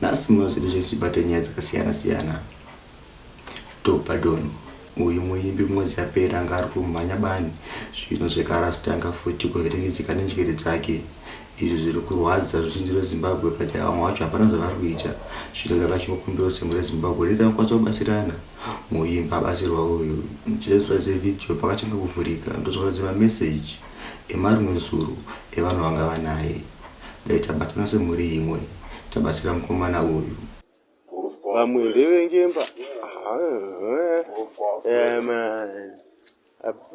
nhasi muno zvedu zvese tibate nyaya dzakasiyana siyana tobadon uyu muimbi mwedzi yapera anga ari kumhanya bani zvino zvekarastanga futi kuverengedzeka nenjere dzake izvi zviri kurwadza zvizhinji rezimbabwe pati vamwe wacho hapana zvavari kuita zvino zanga chikokumbiro dzimwe rezimbabwe riri anokwanisa kubatsirana muimbi abatsirwa uyu chizezvira zevhidhiyo pakachanga kuvhurika ndozvakaratidza mameseji emarimwe zuru evanhu vanga vanaye dai tabatana semhuri imwe tabatsira mukomana uyu vamwe ndevengemba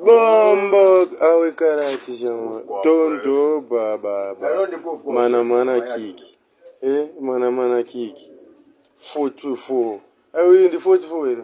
bombo awekarati chama tondo baba mana mana kiki eh mana mana kiki 44 awi ndi 44 here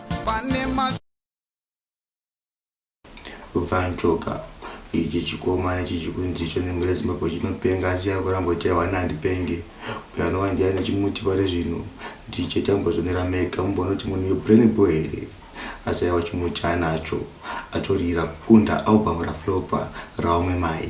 vanchoka ichi chikomana ichi chikunzi icho nemhuri yezimbabwe chinopenga asi yakuramba kuti awana handipenge uyo anova ndiye ane chimuti pari zvino ndiche tambozonera mega mumbonoti munhu yebrain bo here asi aiwa chimuti anacho atorira kukunda album raflopa raumwe mai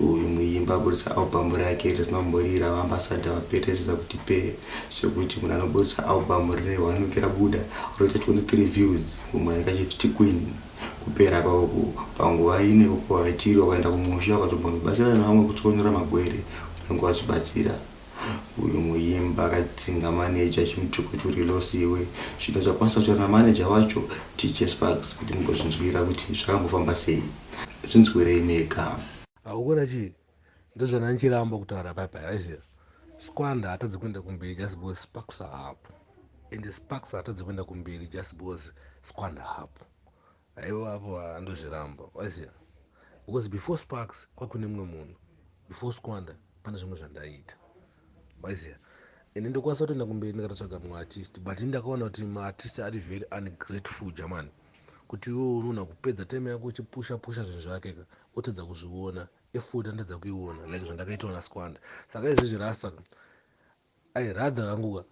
uyu muimbi aburitsa albhamu rake rizinomboriri ravaambasada vaperesesa kuti pee zvekuti munhu anoburitsa albhamu rine one week rabuda roita 23 views kumwe yakachifti queen kupera kauku panguva ine uko haitiri wakaenda kumusha ukatombondibatsira nevamwe kutsonyora magwere unenge wachibatsira uyu muimba akadzinga manager achimutuka kuti uri loss iwe zvino chakwanisa kutaura namanager wacho tj sparks kuti mugozvinzwira kuti zvakambofamba sei zvinzwirei mega haukona chii ndozvana ndichiramba kutaura paipai aiziva squanda hatadzi kuenda kumberi just because sparks ahapo ende sparks hatadzi kuenda kumberi just because squanda hapo Aiwa apo andozviramba waziva because before sparks kwakune mumwe munhu before squander pane zvimwe zvandaiita waziva ini ndokwanisa kutoenda kumberi ndikatotsvaga mumwe artist but ini ndakaona kuti maartist ari very ungrateful jamani kuti iwe unoona kupedza time yako uchipusha pusha zvinhu zvake ka otadza kuzviona efoti anotadza kuiona like zvandakaitawo nasquanda saka izvezvi rasta i rather anguka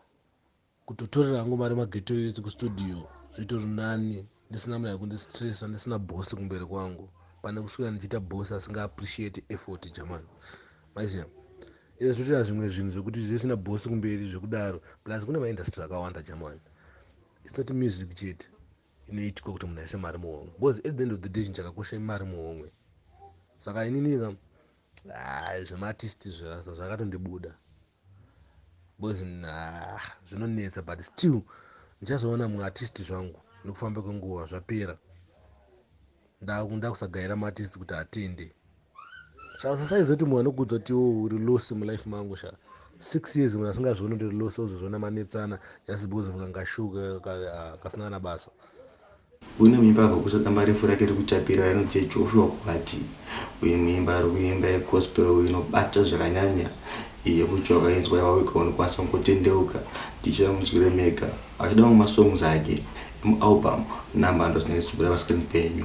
kutotorera hangu mari mageto youth kustudio zvitori nani ndisina mnhu akundistressa ndisina boss kumberi kwangu pane kuswera ndichiita boss asinga appreciate effort jamani maiziva izvo zvotoita zvimwe zvinhu zvekuti zvisina boss kumberi zvekudaro plus kune maindustry akawanda jamani its not music chete inoitwa kuti munhu aise mari muhomwe because at the end of the day chinhu chakakosha imari muhomwe saka inini ka ah, zvemaartist zvakatondibuda boys nah, zvinonetsa but still ndichazoona mumwe artist zvangu nekufamba kwenguva zvapera ndakusagaira maartist kuti atende saizotu munhu anokudza kuti wo oh, uri losi mulife mangu sha six years munhu asingazvioni kuti uri losi ozozviona manetsana just because mukangashuka kasina kana basa Une mimba akakusa damba refu rake rekuchapira rinoti Joshua Kwati. Uyu muimba ari kuimba yegospel inobata zvakanyanya yekuti wakainzwa yawawika unokwanisa kungotendeuka tichira munzwire mega achida mamwe masongs ake emualbum number ndozvine zibura paskrin penyu.